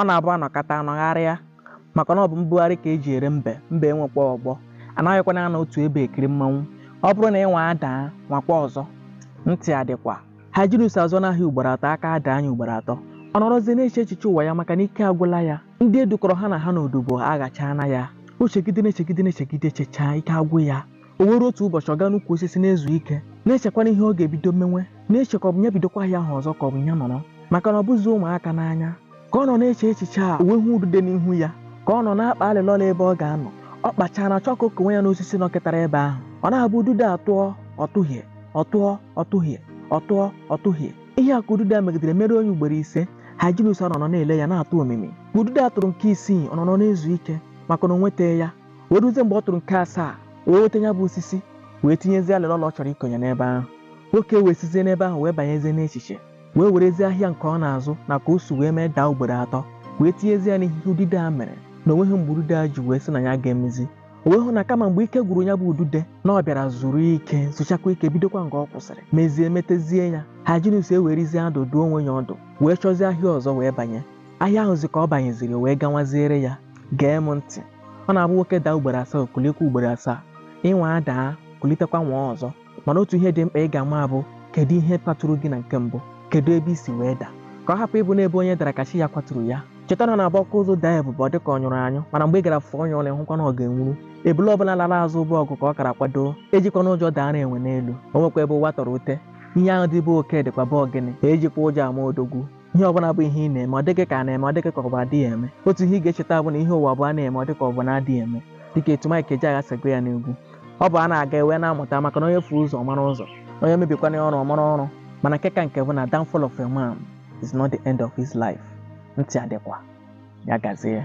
ọ na-abụ anọkata anọgharịa maka na ọ bụ mbugharị ka eji ere mbe mbe enwekwa ọgbọ anaghịkwana anọ otu ebe ekiri mmanwụ ọ bụrụ na ị nwaa daa nwaakwa ọzọ ntị adịkwa Hyginus azụọna ahịa ugboro atọ aka adaa nya ugboro atọ ọ nọrọzie na-eche echiche ụwa ya maka na ike agwụla ya ndị e dukọrọ ha na ha n'odibo aghachaana ya o chegide na-echegide na-echegide chechaa ike agwụ ya O were otu ụbọchị ọ gaa n'ukwu osisi na-ezu ike, na-echekwana ihe ọ ga-ebido menwe, na-eche ka ọ bụ ya bidokwa ahịa ahụ ọzọ ka ọ bụ ya nọrọ, maka na ọ bụzi ụmụaka n'anya. Ka ọ nọ na-eche echiche a, o wee hụ udude n'ihu ya, ka ọ nọ na-akpa alịlọla ebe ọ ga-anọ. Ọ kpachara chọọ ka o konwe ya n'osisi nọkịtara ebe ahụ. Ọ na-abụ udude a tụọ, ọ tụhie, ọ tụọ, ọ tụhie, ọ tụọ, ọ tụhie. Ihe a ka udude a megidere meruo nya ugboro ise. Hyginus anọrọ na-ele ya na-atụ omimi. Ka udude a tụrụ nke isii, ọ nọrọ na-ezu ike, maka na o nwetaghị ya. wee ruzie mgbe ọ tụrụ nke asaa wee nweta ya bụ osisi wee tinyezie alịlọla ọ chọrọ ikonye n'ebe ahụ nwoke a wee sizie n'ebe ahụ wee banyezie n'echiche wee werezie ahịa nke ọ na-azụ na ka o si wee mee daa ugboro atọ wee tinyezie ya n'ihe udude a mere na o nweghị mgbe udude a ji wee sị na ya ga-emezi o wee hụ na kama mgbe ike gwụrụ ya bụ udude na ọ bịara zuru ike zuchakwaa ike bidokwa nga ọ kwụsịrị mezie metezie ya Hyginus ewerezie ọdụ dụọ onwe ya ọdụ wee chọzie ahịa ọzọ wee banye Ahịa ahụzi ka ọ banyeziri wee gawaziere ya. Gee m ntị. Ọ na-abụ nwoke daa ugboro asaa o kuliekwa ugboro asaa. Ị nwaa daa, kulitekwa nwaa ọzọ. Mana otu ihe dị mkpa ị ga-ama bụ kedu ihe kwaturu gị na nke mbụ? Kedu ebe i si wee daa? Ka ọ hapụ ịbụ n'ebe onye dara ka chi ya kwaturu ya. Cheta na ọ na-abụ ọkụ ụzụ daa ibube ọ dị ka ọ nyụrụ anyụ mana mgbe ị gara fụọ ya ọnụ ị hụkwa na ọ ga-enwuru. Ebule ọbụla lara azụ bụ ọgụ ka ọ gara kwadoo. Ejikwana ụjọ daara enwe n'elu. O nwekwa ebe ụwa tọrọ ute. Ihe ahụ dị be oke dịkwa be ọgịnị. Ejikwa ụjọ ama odogwu. ihe ọbụla bụ ihe ị na-eme ọ dị ka a na-eme ọ dị ka ọ bụ adịghị eme otu ihe ị ga-echeta bụ na ihe ụwa bụ a na-eme ọ dịka ọ bụ na adịghị eme dịka etu Mike Ejeagha si gụọ ya n'egwu ọ bụ a na-aga e wee na-amụta maka na onye furu ụzọ mara ụzọ onye mebikwana ọrụ ọ mara ọrụ mana nke ka nke bụ na downfall of a man is not the end of his life ntị adịkwa ya gazie